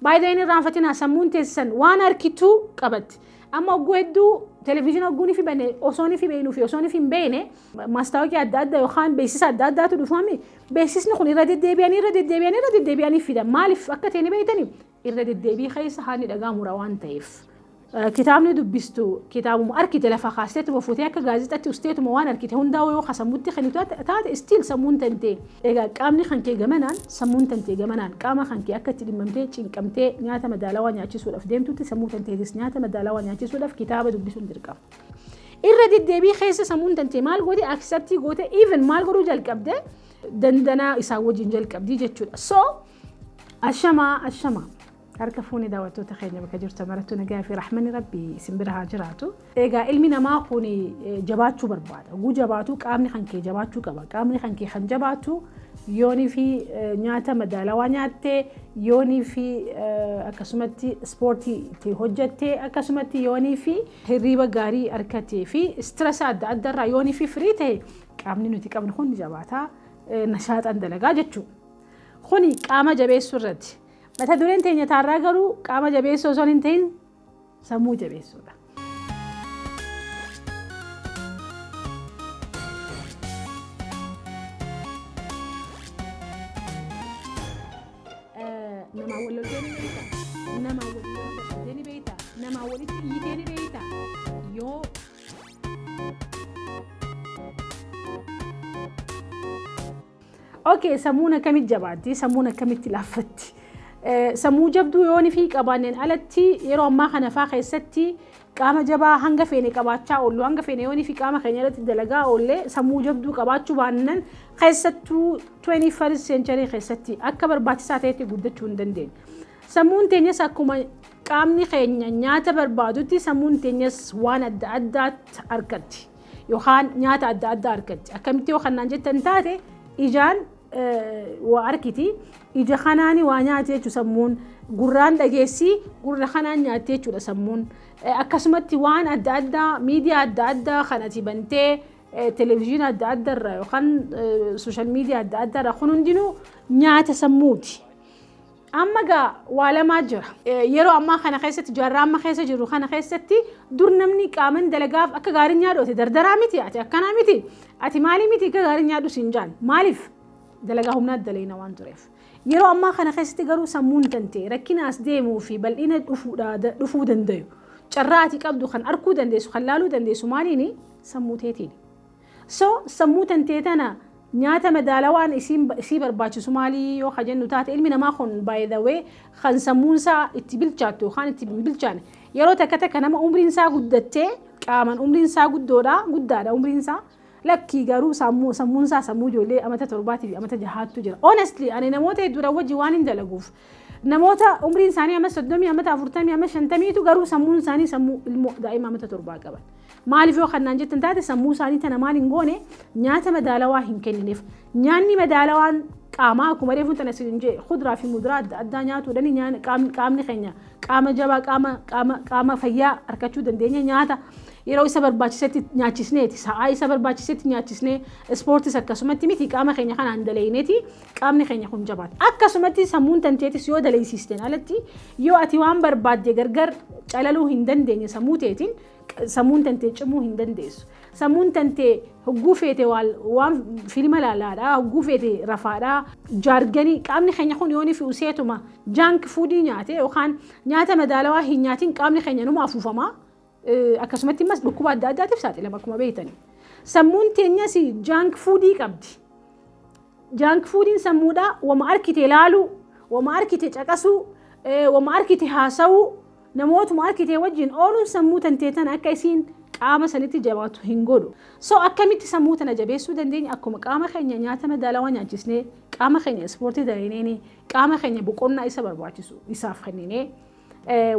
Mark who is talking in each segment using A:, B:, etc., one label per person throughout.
A: By the way hin irraanfatinaa sammuun teessan waan arkitu qabatti. Amma ogguu hedduu televiizyiina ogguun ifi bane osoon ifi beeknu fi osoon ifi hin beekne maastaawoqii adda addaa yookaan beeksisa adda addaatu dhufame beeksisni kun irra deddeebi'anii irra deddeebi'anii irra deddeebi'anii fida maaliif akka ta'e ni beektanii irra deddeebii keessa haadni dhagaa mura waan ta'eef. Kitaabni dubbistu kitaabuma arkite lafa kaasteetuma fuutee akka gaazexatti usteetuma waan arkite hundaa'uu yoo ka sammutti kennitu taate still sammuun tantee egaa qaamni kankee gamanaan sammuun tantee gamanaan qaama kankee akka itti dhimmamtee cinqamtee nyaata madaalawaa nyaachisuudhaaf deemtutti sammuu tanteetis nyaata madaalawaa nyaachisuudhaaf kitaaba dubbisuun dirqama. Irra deddeebii keessa sammuun tantee maal goote acceptii goote even maal godhuu jalqabde dandanaa isaa wajjin jalqabdii jechuudha. So ashamaa ashamaa. Harka fuune daawwattoota keenya bakka jirtan marattuu nagaa fi rahmanni rabbi isin bira haa jiraatu. Egaa ilmi namaa kun jabaachuu barbaada. Oguu jabaatuu qaamni kan kee jabaachuu qaba. Qaamni kan kee kan jabaatu yoonii fi nyaata madaalawaa nyaattee yoonii fi akkasumatti ispoortii itti hojjattee akkasumatti yoonii fi hirriiba gaarii argatee fi istirasa adda addaarraa yoonii fi firii ta'e qaamni nuti qabnu kun jabaataa nashaaxaan dalagaa jechuudha. Kuni qaama jabeessuu irratti. Mata dureen teenya taarraa garuu qaama jabeessuu osoo hin ta'in sammuu jabeessuudha. Namaa wal loltee ni beektaa? Namaa wal loltee ni beektaa? Namaa walitti iyyitee ni beektaa? Yoo Okay, sammuun akkamitti jabaatti? Sammuun akkamitti laaffatti? Sammuu jabduu yoon fi qabaanneen alatti yeroo ammaa kana faa keessatti qaama jabaa hanga feene qabaachaa oollu hanga feene yoon fi qaama keenya irratti dalagaa oollee sammuu jabduu qabaachuu baannan keessattuu 21st century keessatti akka barbaachisaa ta'etti guddachuu hin dandeenye. Sammuun teenyas akkuma qaamni keenya nyaata barbaadutti sammuun teenyas waan adda addaatti argatti. Yookaan nyaata adda addaa argatti. Akkamitti yoo kannaan jettan taate ijaan waa arkiti. Ija kanaani waa nyaati jechuudha sammuun. Gurraan dhageessi gurra kanaan nyaatti jechuudha sammuun. Akkasumatti waan adda addaa miidiyaa adda addaa kan ati bantee televizyiina adda addaa irraa yookaan sooshaal miidiyaa adda addaa irraa kun hundinuu nyaata sammuuti. Amma gaa waa lamaa jira. Yeroo ammaa kana keessatti jaarraa amma keessa jirru kana keessatti dur namni qaaman dalagaaf akka gaarii nyaadhoote dardaraa miti ati akkanaa miti ati maalii miti akka gaarii nyaadhu siin jaan maaliif dalagaa humnaa dalayna waan tureef. Yeroo ammaa kana keessatti garuu sammuun tante rakkina as deemuu fi bal'ina dhufuu dandayu carraa ati qabdu kan arkuu dandeessu kan laaluu dandeessu maaliini sammuu teetiini. So sammuu tantee tana nyaata madaalawaan isiin isii barbaachisu maalii yoo ka jennu taate ilmi namaa kun by the way kan sammuun isaa itti bilchaattu yookaan itti hin bilchaane yeroo takka takka nama umriin isaa guddattee qaaman umriin isaa guddoodha guddaadha umriin isaa lakkii garuu sammuu sammuun isaa sammuu ijoollee amata torbaatii fi amata jahaattu jira honestly ani namoota hedduudhaan wajji waan hin dalaguuf Namoota umriin isaanii amma 30 amma 40 amma 50 tu garuu sammuun isaanii sammuu ilmoo daa'ima amma torbaa qaban. Maaliif yoo kannaan jettan taate sammuu isaanii tana maal hin goone nyaata madaalawaa hin kennineef. Nyaanni madaalawaan qaamaa akkuma reefuun tana isin jee kuduraa fi muduraa adda addaa nyaatuudhaan qaamni keenya qaama jabaa qaama qaama qaama fayyaa argachuu dandeenya nyaata yeroo isa barbaachisetti nyaachisneeti sa'aa isa barbaachisetti nyaachisnee ispoortis akkasumatti miti qaama keenya kanaan daleeyneeti qaamni keenya kun jabaata. Akkasumatti sammuun tanteetis yoo daleeysiisteen alatti yoo ati waan barbaadde gargar calaluu hin dandeenye sammuu teetiin sammuun tantee cimuu hin dandeessu. Sammuun tantee hogguu feete waan filma laalaadha, hogguu feete rafaadha, jaarganii qaamni keenya kun yoonii fi useetuma jaank fuudii nyaate yookaan nyaata madaalawaa hin nyaatiin qaamni keenya numa afuufama. Akkasumatti immas dhukkuba adda addaatiif saaxilama akkuma beektani. Sammuun teenyas jaank fuudii qabdi. Jaank fuudiin sammuudhaa wama arkite laaluu, wama arkite caqasuu, wama arkite haasa'uu, namootuma arkite wajjin ooluun sammuu tantee tana akka isiin qaama sanitti jabaatu hin godhu. So akkamitti sammuu tana jabeessuu dandeenya akkuma qaama keenya nyaata madaalawaa nyaachisnee, qaama keenya ispoortii dalayneenii, qaama keenya boqonnaa isa barbaachisu isaaf kenninee.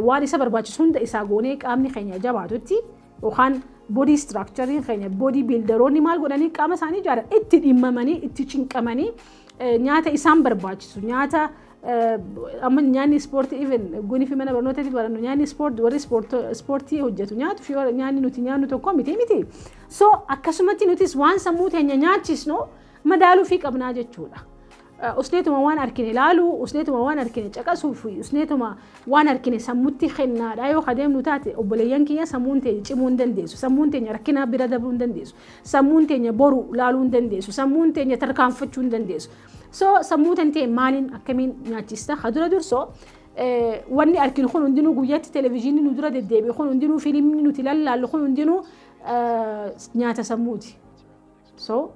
A: waan isa barbaachisu hunda isaa goonee qaamni keenya jabaatutti yookaan bodii istiraakchariin keenya bodii biildaroonni maal godhanii qaama isaanii ijaaran itti dhimmamanii itti cinqamanii nyaata isaan barbaachisu nyaata amma nyaanni ispoortii even gunii fi mana barnootaatti barannu nyaanni ispoortii warri ispoortii hojjetu nyaatu fi nyaanni nuti nyaannu tokko miti miti. So akkasumatti nutis waan sammuu teenya nyaachisnu madaaluu fi qabnaa jechuudha. Usneetuma waan arkine ilaaluu, usneetuma waan arkine caqasuu fi usneetuma waan arkine sammutti kennaadhaa yoo kadeemnu taate obboleeyyan kiyya sammuun teenya cimuu hin dandeessu. Sammuun teenya rakkinaa bira dabruu hin dandeessu. Sammuun teenya boru laaluu hin dandeessu. Sammuun teenya tarkaanfachuu hin dandeessu. So sammuu tantee maaliin akkamiin nyaachista? Ka dura dursoo wanni arkinu kun hundinuu guyyatti televezyiinii nu dura deddeebi'e kun hundinuu fiilmni nuti lallaallu kun hundinuu nyaata sammuuti. So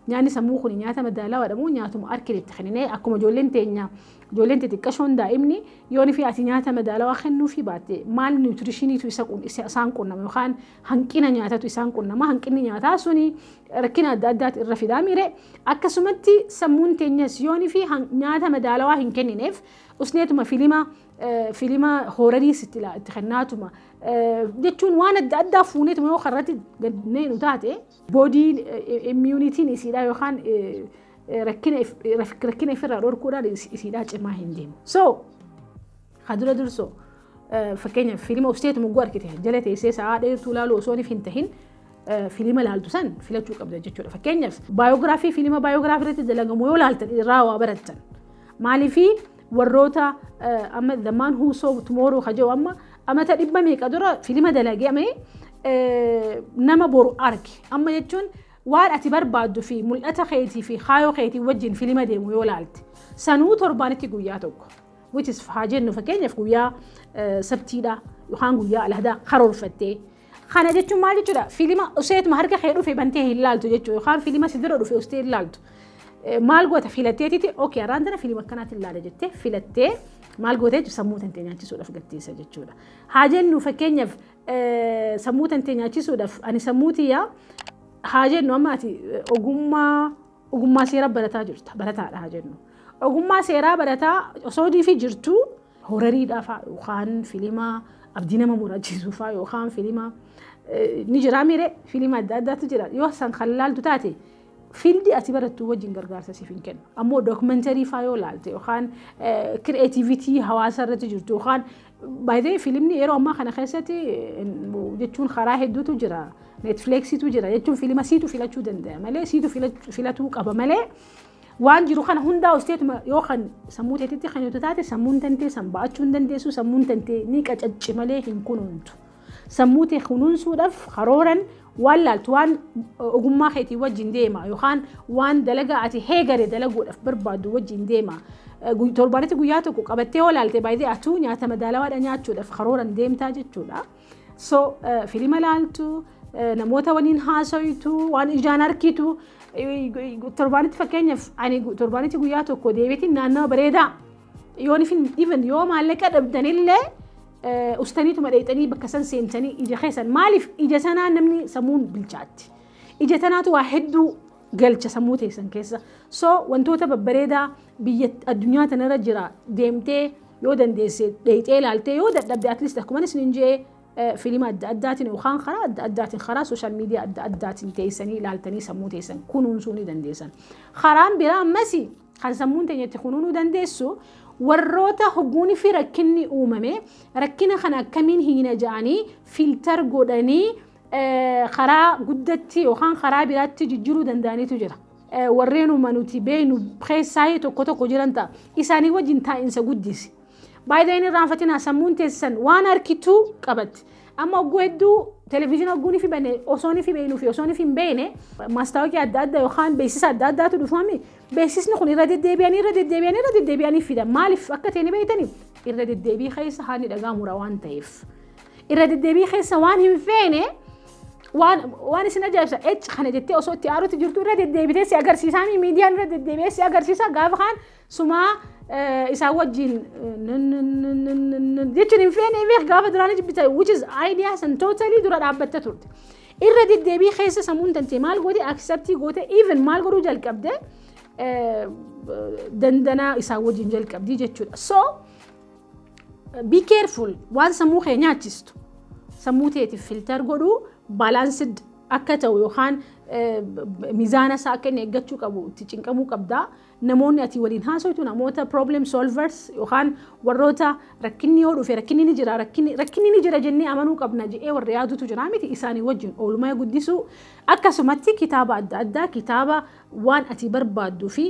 A: nyaanni sammuu kun nyaata madaalawaadha moo nyaatuma harkeen itti kenninee akkuma ijoolleen teenya ijoolleen xixiqqashoon daa'imni yoon fi ati nyaata madaalawaa kennuufii baatte maal niwutirishiniitu isa qun- isa- isaan qunnama yookaan hanqina nyaatatu isaan qunnama hanqinni nyaataa suni rakkina adda addaati irra fidaa miire akkasumatti sammuun teenyas yoon fi han- nyaata madaalawaa hin kennineef usneetuma filima eh, filima hoorariis itti laa- itti kennaatuma eh, jechuun waan adda addaa fuuneetuma yoo karratti gannee nu taate Boodii immuunitiin isiidhaa yookaan rakkina ifirraa dhorkuudhaan isiidhaa cimaa hin deemu. So, haa dura dursoo fakkeenyaaf fiilima obseetu mugguu argite jala teessee sa'aa dheertuu ilaaluu osoo hin tahin fiilima ilaaltu san filachuu qabda jechuudha. Fakkeenyaaf baayogiraafii fiilima baayogiraafii irratti dalagamu yoo ilaaltan irraa waa barattan. Maaliifii warroota amma the man who saw tomorrow ka jedhu amma amata dhibba meeqa dura filima dalagee amee nama boru arge amma jechuun waan ati barbaaddu fi mul'ata keetii fi kaayoo keetii wajjin filima deemu yoo laalte sanuu torbaanitti guyyaa tokko which is haa jennu fakkeenyaaf guyyaa sabtiidha yookaan guyyaa alhadaa karoorfattee Kana jechuun maal jechuudha? Filima useetuma harka kee dhufe bantee hin laaltu jechuudha. Yookaan filima si bira dhufe ustee hin laaltu. Maal goota filatteetiti ok araan tana filima akkanaatiin laala jettee filattee maal goota jechuudha sammuu tantee nyaachisuudhaaf gatteessa jechuudha. Haa jennu fakkeenyaaf sammuu tantee nyaachisuudhaaf ani sammuu tiyyaa haa jennu amma ati ogummaa ogummaa seeraa barataa jirta barataadha haa jennu. Ogummaa seeraa barataa osoo diifi jirtu horariidhaa faa yookaan filima abdii nama murachiisu faa yookaan filima ni jiraa miiree filima adda addaatu jira yoo san kan laaltu taate fiildii ati barattuu wajjin gargaarsa siif hin kennu ammoo dookumentarii faa yoo laalte yookaan kireetiivitii hawaasa irratti jirtu yookaan baay'ee filimni yeroo ammaa kana keessatti jechuun karaa hedduutu jira neetfleeksiitu jira jechuun filima siitu filachuu danda'a malee siitu filatuu qaba malee Waan jiru kana hundaa usteetuma yoo kan sammuu teetitti kan yoo taate sammuun tantee san ba'achuu hin dandeessu sammuun tantee ni qacacci malee hin kunuuntu. Sammuu tee kunuunsuudhaaf karooran waan laaltu waan ogummaa keetii wajjin deema yookaan waan dalagaa ati heegare dalaguudhaaf barbaadu wajjin deema. Torbaanitti guyyaa tokko qabattee yoo laalte baay'ee atuu nyaata madaalawaadha nyaachuudhaaf karooran deemtaa jechuudha. So filima laaltu namoota waliin haasawitu waan ijaan arkitu torbaanitti fakkeenyaaf ani torbaanitti guyyaa tokko deebiitiin naannawa bareedaa yoon even yoo maallaqa dhabdanillee ustaniituma dheexanii bakka san seentanii ija keessan maaliif ija sanaa namni sammuun bilchaatti ija tanaatu waa hedduu galcha sammuu teessan keessa. So wantoota babbareedaa biyya addunyaa tanarra jira deemtee yoo dandeesse dheeyxee ilaaltee yoo dadhabde at least akkuma isin hin jee fiilima adda addaatiin yookaan karaa adda addaatiin karaa sooshaal miidiyaa adda addaatiin teessanii ilaaltanii sammuu teessan kunuunsuu ni dandeessan. Karaan biraa ammas kan sammuun teenya itti kunuunuu dandeessu warroota hogguunii fi rakkinni uumame rakkina kana akkamiin hiina ja'anii fiiltar godhanii karaa guddatti yookaan karaa biraatti jijjiiruu danda'anitu jira. Warreenuma nuti beeknu keessaa tokko tokko jiran ta'a. Isaanii wajjin taa'insa guddisi. Baay'ee inni irraanfatinaa sammuun teessan waan harkituu qabatti. Amma ogguu hedduu televizyiina ogguu ni fibane osoo ni fibeenuu fi osoo ni hin beekne maastaawoqii adda addaa yookaan beeksisa adda addaatu dhufame beeksisni kun irra deddeebi'anii irra deddeebi'anii irra deddeebi'anii fidan maaliif akka ta'e ni beektanii irra deddeebii keessa haalli dhaga'amura waan ta'eef. irra deddeebii keessa waan hin feene waan waan isin ajaa'ibsa ec kana jettee osoo itti aarutti jirtu irra deddeebitee si agarsiisaa mi miidiyaan irra deddeebi'ee si agarsiisa gaafa kaan sumaa eh, isaa wajjin eh, nun, nun, nun, nun, nun, nun jechuun hin feene beek gaafa duraanii jibbita which is ideas and totally dura dhaabbatta turte irra deddeebii keessa sammuun tantee maal goote acceptii goote even maal godhuu jalqabde eh, dandanaa isaa wajjin jalqabdii jechuudha so Be careful waan sammuu kee nyaachistu. Sammuu teetiif filter godhu balanced akka ta'u yookaan mizaana isaa akka inni eeggachuu qabu itti cinqamuu qabda. Namoonni ati waliin haasoytu namoota problem solvers yookaan warroota rakkinni yoo dhufe rakkinni ni jira rakkinni ni jira jennee amanuu qabna jedhee warra yaadutu jira miti isaanii wajjin oolmaa guddisuu akkasumatti kitaaba adda addaa kitaaba waan ati barbaaddu fi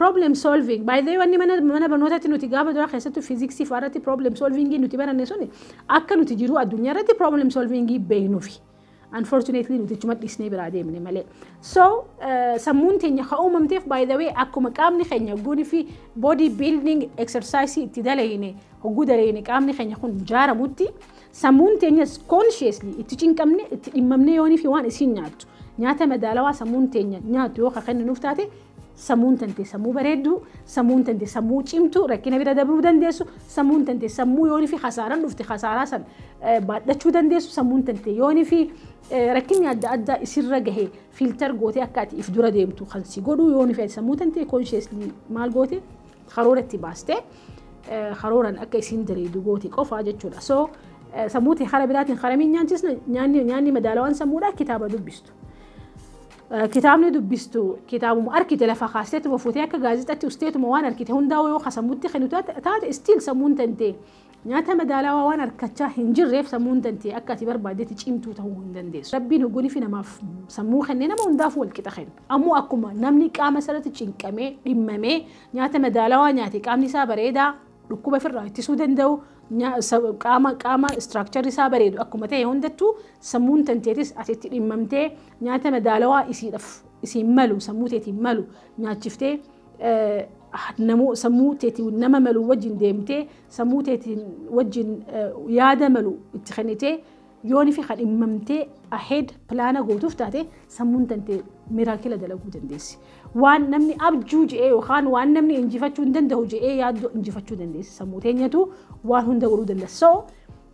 A: problem solving by the way wanni mana mana barnootaatti nuti gaafa duraa keessattuu fiiziksii fa'aa irratti problem solving nuti baranne suni akka nuti jiruu addunyaa irratti problem solving beeknuufi unfortunately nuti chuma dhiisnee biraa deemne malee so sammuun teenya ka uumamteef by the way akkuma qaamni keenya guuni fi body building exercise itti dalayne hogguu dalayne qaamni keenya kun jaaramutti Sammuun teenyas consciously itti cinqamne itti dhimmamne yoonii fi waan isiin nyaattu nyaata madaalawaa sammuun teenya nyaattu yoo ka kenninuuf taate sammuun tante sammuu bareedduu sammuun tante sammuu cimtuu rakkina bira dabruu dandeessu sammuun tante sammuu yoonii fi kasaaran dhufte kasaaraa san baadhachuu dandeessu sammuun tante yoonii fi rakkinni adda addaa isirra gahe fiiltar gootee akka ati if dura deemtu kan si godhuu yoonii fi sammuu tante consciously maal goote karoora itti baaste karooran akka isiin diriidu gooti qofaa jechuudha. So sammuu tee kara biraatiin karamiin nyaachisna nyaanni madaalawaan sammuudha kitaaba dubbistu. Kitaabni dubbistu kitaabuma arkite lafa kaasteetuma fuutee akka gaazexatti usteetuma waan arkite hundaa'u yoo ka sammuutti kennu taate istiil sammuun tantee Nyaata madaalawaa waan arkachaa hin jirreef sammuun tantee akka ati barbaaddetti cimtuu ta'uu hin dandeessu. Rabbiin hogolifi namaaf sammuu kenne nama hundaaf wal qixa kenna. Ammoo akkuma namni qaama isarratti cinqamee, dhimmamee, nyaata madaalawaa nyaate qaamni isaa bareedaa, dhukkuba firraa ittisuu danda'u, qaama qaama structure isaa bareedu akkuma ta'e hundattuu sammuun tanteetis ati itti dhimmamtee nyaata madaalawaa isiidhaf isiin malu sammuu teetiin malu nyaachiftee namoo sammuu teetiin nama malu wajjin deemtee sammuu teetiin wajjin yaada malu itti kennitee yoon fi kan dhimmamtee ahead pilaana gootuuf taate sammuun tantee miraakila dalaguu dandeessi. Waan namni abjuu je'ee yookaan waan namni injifachuu hin danda'u je'ee yaaddoo injifachuu dandeessi. Sammuu teenyatu waan hunda godhuu dandeessi. So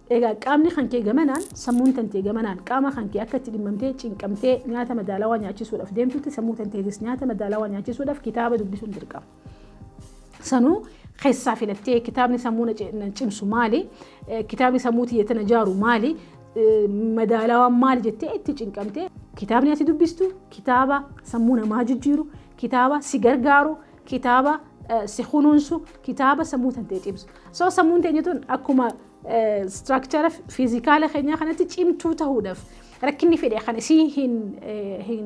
A: Egaa qaamni kan kee gamanaan, sammuun tantee gamanaan qaama kan kee akka itti dhimmamtee, cinqamtee nyaata madaalawaa nyaachisuudhaaf deemtutti sammuu tanteetis nyaata madaalawaa nyaachisuudhaaf kitaaba dubbisuun dirqama. Sanuu keessaa filattee kitaabni sammuu na ci- na cimsu maali? Eh, Kitaabni sammuu tiyya tana jaaru maali? Eh, Madaalawaan maali jettee itti cinqamtee kitaabni ati dubbistu kitaaba sammuu namaa jijjiiru, kitaaba si gargaaru, kitaaba si kunuunsu kitaaba sammuu tantee cimsu so sammuun teenya tun akkuma istiraakchara fiizikaala keenyaa kanatti cimtuu ta'uudhaaf rakkinni fedhe kan isii hin hin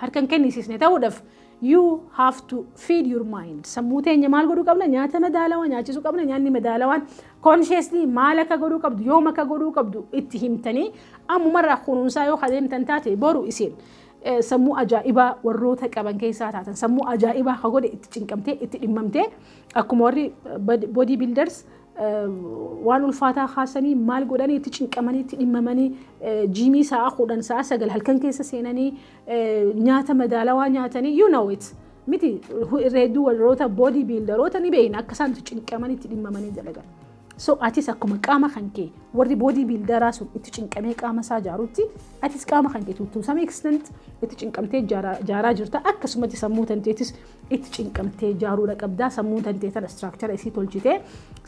A: harkan kennisiisne ta'uudhaaf you have to feed your mind sammuu teenya maal godhuu qabna nyaata madaalawaa nyaachisuu qabna nyaanni madaalawaan consciously maal akka godhuu qabdu yoom akka godhuu qabdu itti himtanii ammumarraa kunuunsaa yoo kadeemtan taate boru isin sammuu ajaa'ibaa warroota qaban keessaa taatan sammuu ajaa'ibaa ka godhe itti cinqamtee itti dhimmamtee akkuma warri body builders waan ulfaataa kaasanii maal godhanii itti cinqamanii itti dhimmamanii jiimii sa'a kudhan sa'a sagal halkan keessa seenanii nyaata madaalawaa nyaatanii you know it miti reedduu warroota body builderoota ni beekna akka isaan itti cinqamanii itti dhimmamanii dalagan. So atis akkuma qaama kan kee warri boodii biildaraa sun itti cinqamee qaama isaa jaarutti atis qaama kan kee to some extent itti cinqamtee jaaraa jirta akkasumatti sammuu tanteetis itti cinqamtee jaaruudha qabdaa sammuu tantee tana istiraakchara isii tolchitee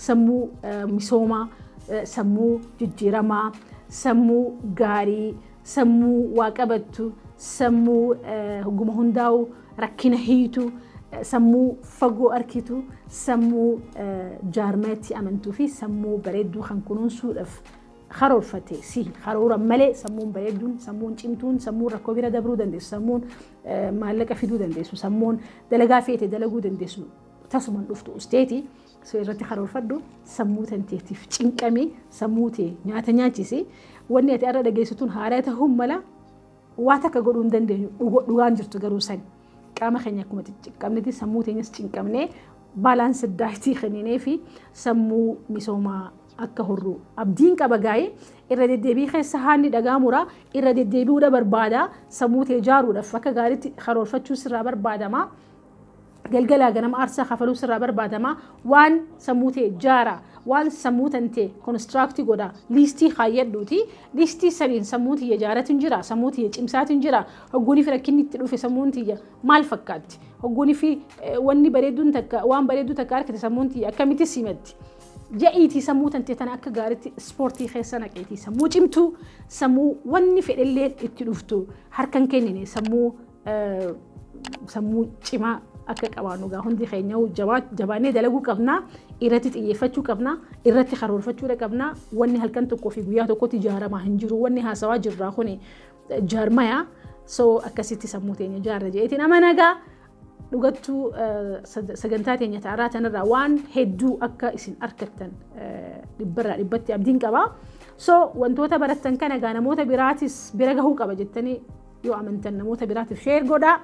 A: sammuu misoomaa sammuu jijjiiramaa sammuu gaarii sammuu waa qabattu, sammuu hogguma hundaa'u rakkina hiitu, sammuu fagoo arkitu, sammuu jaarmayatti amantuu fi sammuu bareedduu kan kunuunsuudhaaf karoorfate si karooran malee sammuun bareedduun, sammuun cimtuun, sammuun rakkoo bira dabruu dandeessu, sammuun maallaqa fiduu dandeessu, sammuun dalagaa feete dalaguu dandeessu tasuman dhuftu usteeti. So irratti karoorfadhu, sammuu tanteetiif cinqami, sammuu tee nyaata nyaachisi. Wanni ati har'a dhageessu tun haaraa ta'uun mala waa takka godhuu hin dandeenyu. Dhugo- Dhugaan jirtu garuu sani. Qaama keenya akkuma cinqamnetti sammuu teenyas cinqamnee baalaansi daayitii kenninee fi sammuu misoomaa akka horru abdiin qaba gaa'ee irra deddeebii keessa haanni dhagaamura irra deddeebi'uudha barbaada sammuu tee ijaaruudhaaf akka gaariitti karoorfachuu sirraa barbaadama. galgalaa ganama aarsaa kafaluu sirraa barbaadama waan sammuu ta'e jaara waan sammuu tante konistiraaktii godha liistii kaayyadhuuti liistii saniin sammuu tiyya jaaratin jira sammuu tiyya cimsaatin jira hogguunii fi rakkinni itti dhufe sammuun tiyya maal fakkaatti hogguunii fi wanni bareedduun takka waan bareedduu takka argite sammuun tiyya akkamitti simatti ja'iitii sammuu tante tana akka gaaritti ispoortii keessa naqeetii sammuu cimtuu sammuu wanni fedhelleen itti dhuftu harkan kennine sammuu sammuu cimaa akka qabaannu egaa hundi keenya jabaannee dalaguu qabna irratti xiyyeeffachuu qabna irratti karoorfachuudha qabna wanni halkan tokkoo fi guyyaa tokkotti ijaaramaa hin jiru wanni haasawaa jirraa kun jaarmaya so akkasitti sammuu teenya ijaarra jedheetiin amanagaa dhugattuu sagantaa teenya ta'arraa tanarraa waan hedduu akka isin argattan dhibbarraa dhibbatti abdiin qaba so wantoota barattan kana egaa namoota biraatis bira gahuu qaba jettanii Yoo amantan namoota biraatiif sheer godhaa.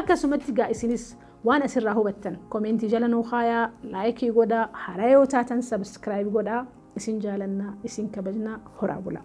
A: Akkasumatti gaa isinis waan asirraa hubattan komeentii jala nuu kaayaa laayikii godhaa haaraa yoo taatan sabiskiraayib godhaa isin jaalannaa isin kabajnaa horaa bulaa.